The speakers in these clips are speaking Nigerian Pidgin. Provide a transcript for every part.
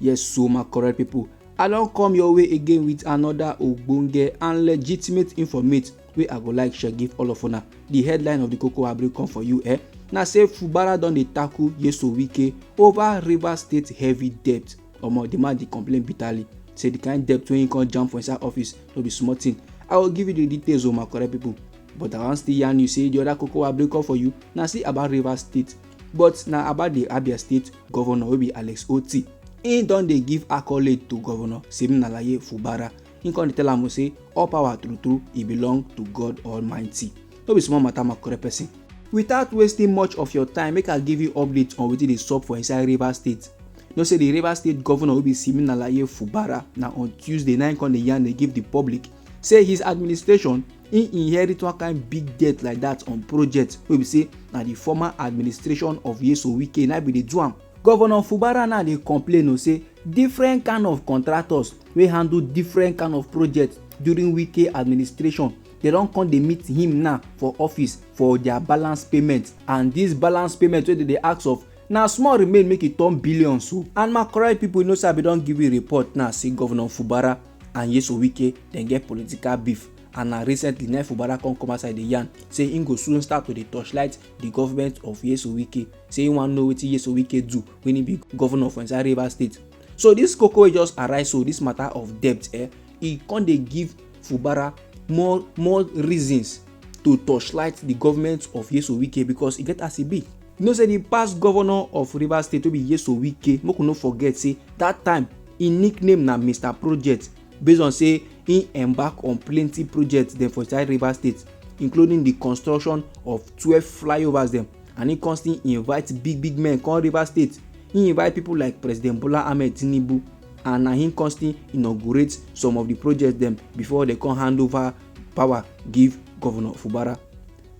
yes so my correct people i don come your way again with another ogbonge and legitimate informate wey i go like share give all of una the headline of the koko i bring come for you eh na say fubara don dey tackle yeso wike over rivers state heavy debt omo the man dey complain bitterly say the kind debt wey he come jam for inside office no be small thing i go give you the details o oh, my correct people but i wan still yarn you say the other koko i bring come for you na still about rivers state but na about di abia state governor wey be alex oti im don dey give accolade to governor siminalayi fubara im come dey tell am say all power true true e belong to god almighty no be small matter makore person without wasting much of your time make i give you update on wetin dey sup for inside rivers state you know say di rivers state governor wey be siminalayi fubara na on tuesday na im come dey yarn dey give di public say his administration im inherit one kind big debt like that on project wey be say na the former administration of yeso wike na be dey do am governor fubara now dey complain o say different kind of contractors wey handle different kind of projects during wike administration they don come dey meet him now for office for their balance payment and this balance payment wey they dey ask of na small remain make e turn billions o and my correct people you know say i bin don give you report now say governor fubara and Nyesom Wike dem get political beef and na recently na Fubara come come outside dey yarn say im go soon start to dey torchlight di government of Nyesom Wike say im wan know wetin Nyesom Wike do wen im be governor for inside Rivers State. So dis koko wey just arise so dis matter of debt eh e come dey give Fubara more more reasons to torchlight di government of Nyesom Wike because e get as e be. you know say the past governor of rivers state wey be yeso wike make we no forget say that time im nickname na mr project based on say im embark on plenty projects dem for inside rivers state including the construction of twelve flyovers dem and im come still invite big big men come rivers state im invite people like president bola ahmed tinubu and na him come still inaugurate some of the projects dem before dem come hand over power give governor fubara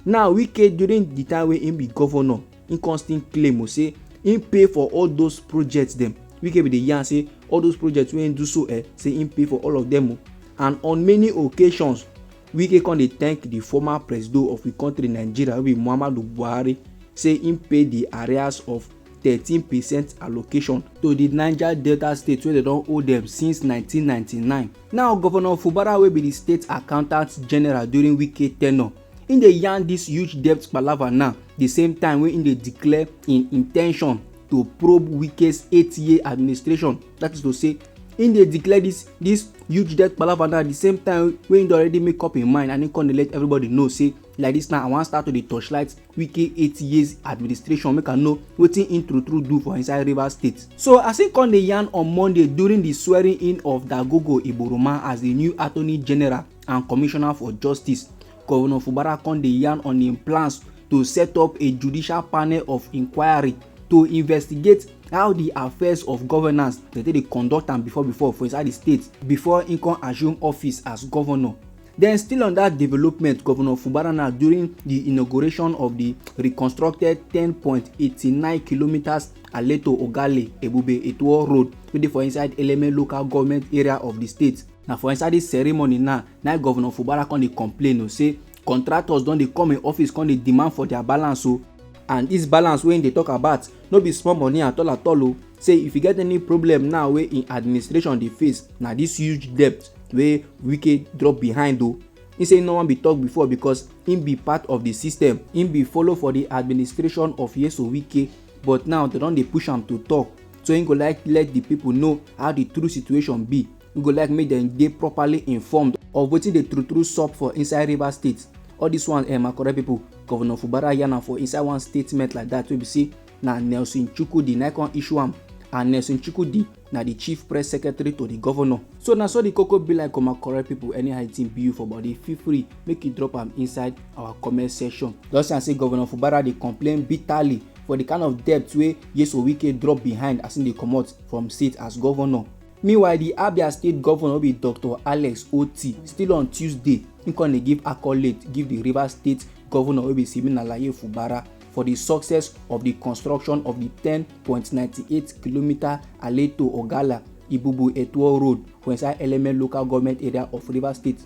Now Wike during the time wey im be governor, im come still claim o say im pay for all those projects dem. Wike bin dey yarn say all those projects wey im do so eh, say im pay for all of them o. And on many occasions, Wike come dey thank the former presido of we country Nigeria wey be Muhammadu Buhari say im pay the arrears of thirteen percent allocation to di niger delta state wey dem don owe dem since 1999 now governor fubara wey be di state accountant general during wike tenure im dey yarn dis huge debt palava now di same time wey im dey declare im intention to probe wike's eight year administration that is to say im dey declare dis dis huge debt palava now di same time wey im don already make up im mind and im come dey let everybody know say like dis now i wan start to dey torchlight wike eight years administration make i know wetin im true true do for inside rivers state so as im come dey yarn on monday during di swearing in of dagogo iboroma as di new attorney general and commissioner for justice governor fubara come dey yarn on im plans to set up a judicial panel of inquiry to investigate how di affairs of governance dey take dey conduct am before before for inside di state before im come assume office as governor Then still on that development, Governor Fubara now during the inauguration of the reconstructed 10.89 kilometers Aleto Ogale Ebube Etuo Road wey dey for inside Eleme local government area of the state. Na for inside this ceremony now, na Governor Fubara come dey complain o say contractors don dey come im office come dey demand for their balance o and this balance wey im dey talk about no be small money at all at all o. say if e get any problem now wey im administration dey face na dis huge debt wey wike drop behind o im say no wan be talk before because im be part of di system im be follow for di administration of yeso wike but now dem don dey push am to talk so im go like let di pipo know how di true situation be im go like make dem dey properly informed of wetin dey true true sup for inside rivers state all dis one eh my correct pipo govnor fubara yarn am for inside one statement like dat wey be say na Nelson Chukwudi na come issue am and Nelson Chukwudi na the chief press secretary to the governor. So na so the koko be like comma correct people anyhow thing be you for body feel free make you drop am inside our comment section. Just yarn say Governor Fubara dey complain bitterly for the kind of debt wey Yeso Wike drop behind as im dey comot from seat as governor. Meanwhile, the Abia State governor be Dr. Alex Oti still on Tuesday, im come dey give accolade give the Rivers State governor wey be Siminalayi Fubara for di success of di construction of di 10.98 kilometre Aleto Ogala Ibubu Etuo Road for inside Eleme local government area of Rivers State.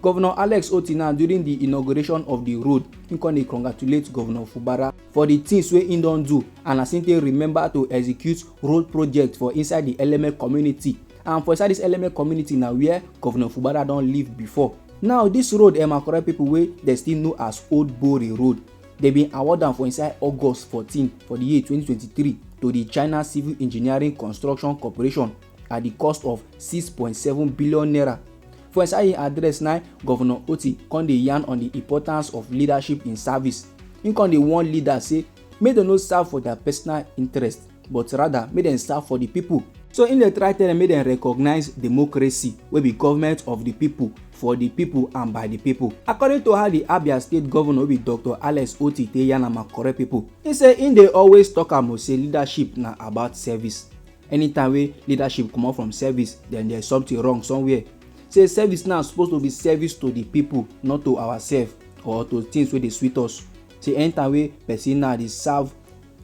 Governor Alex Otina during di inauguration of di road, im come dey congratulate Governor Fubara for di tins wey im don do and as im take remember to execute road project for inside di Eleme community and for inside dis Eleme community na wia Governor Fubara don live before. Now dis road um na correct pipo wey dem still know as Old Bori Road. Dem bin award am for inside August 14 for di year 2023 to di China Civil Engineering Construction Corporation at di cost of 6.7 billion naira. For inside im address na Governor Otti come dey yarn on di importance of leadership in service. Im come dey warn leaders say make dem no serve for their personal interest. but rather make dem serve for di pipo. So im dey try tell dem make dem recognise democracy wey be government of di pipo, for di pipo and by di pipo. According to how di Abia State Govnor wey be Doctor Alex Otti take yarn am and correct pipo, im say im dey always tok am o say leadership na about service. Anytime wey leadership comot from service, den there is something wrong somewhere. Say service now suppose to be service to di pipo not to oursef or to tins wey dey sweet us. Say anytime wey pesin now dey serve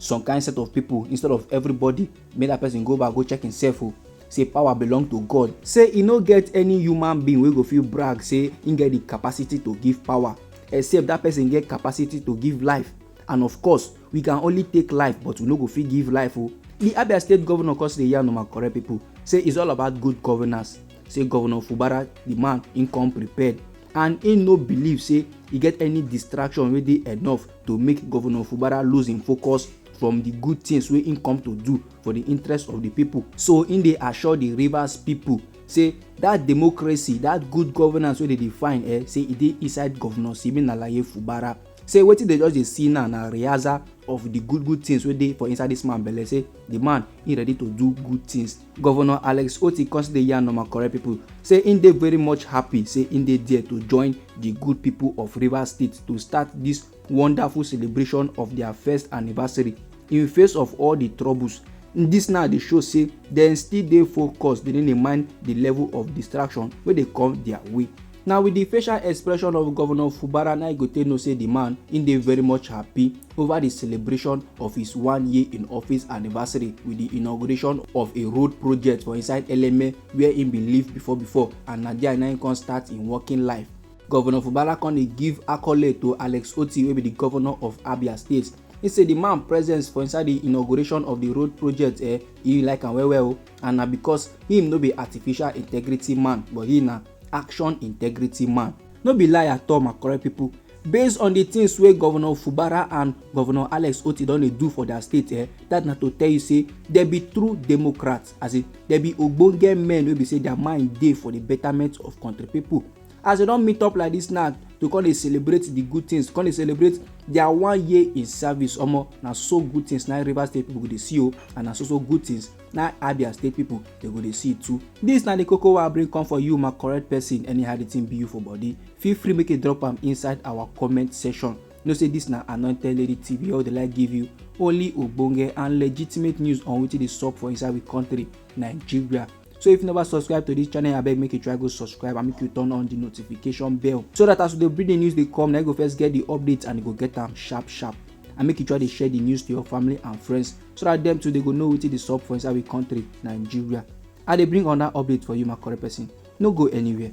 some kind set of people instead of everybody make that person go back go check himself o oh. say power belong to god say e no get any human being wey go fit brag say im get the capacity to give power except that person get capacity to give life and of course we can only take life but we no go fit give life o oh. the abia state governor come still dey yarn normal correct people say it's all about good governance say governor fubara the man im come prepared and im no believe say e get any distraction wey dey enough to make governor fubara lose im focus from di good tins wey im come to do for di interest of di pipo so im dey assure di rivers pipo say dat democracy dat good governance wey dey define eh say e dey inside governor siminalaye fubara say wetin dey just dey see now na rehearsal of di good good tins wey dey for inside dis man belle say di man e ready to do good tins Govnor Alex Otti come still dey yarn normal correct pipo say im dey very much happy say im dey there to join di good pipo of Rivers State to start dis wonderful celebration of dia first anniversary in face of all di troubles. Dis now dey show say dem still dey focused dey no dey mind di level of distraction wey dey come dia way. na with di facial expression of governor fubara na you go take know say di man im dey very much happy over di celebration of his one year in office anniversary with di inauguration of a road project for inside eleme wia im bin live before before and na dia na im come start im working life governor fubara come dey give accolade to alex oti wey be di governor of abia state He say di man presence for inside di inauguration of di road project eh e like am well well o and na because him no be artificial integrity man but he na action integrity man no be lie at all my correct people based on the things wey governor fubara and governor alex oti don dey do for their state eh that na to tell you say dem be true democrats as in dem be ogbonge men wey be say their mind dey for the betterment of country people as dem don meet up like this now to come dey celebrate the good things come dey celebrate their one year in service omo na so good things na rivers state people go dey see o oh, and na so so good things na abia state pipo dey go dey see too dis na di koko wey i bring come for you my correct person anyhow di thing be you for body feel free make you drop am inside our comment section know say dis na anointed lady tv wey dey like give you only ogbonge and legitimate news on wetin dey sup for inside we country nigeria so if you never subscribe to this channel abeg make you try go subscribe and make you turn on the notification bell so that as we dey bring the news dey come na you go first get the update and you go get am sharp sharp and make you try dey share the news to your family and friends so that them too they go know wetin dey sup for inside we country nigeria i dey bring another update for you my correct person no go anywhere.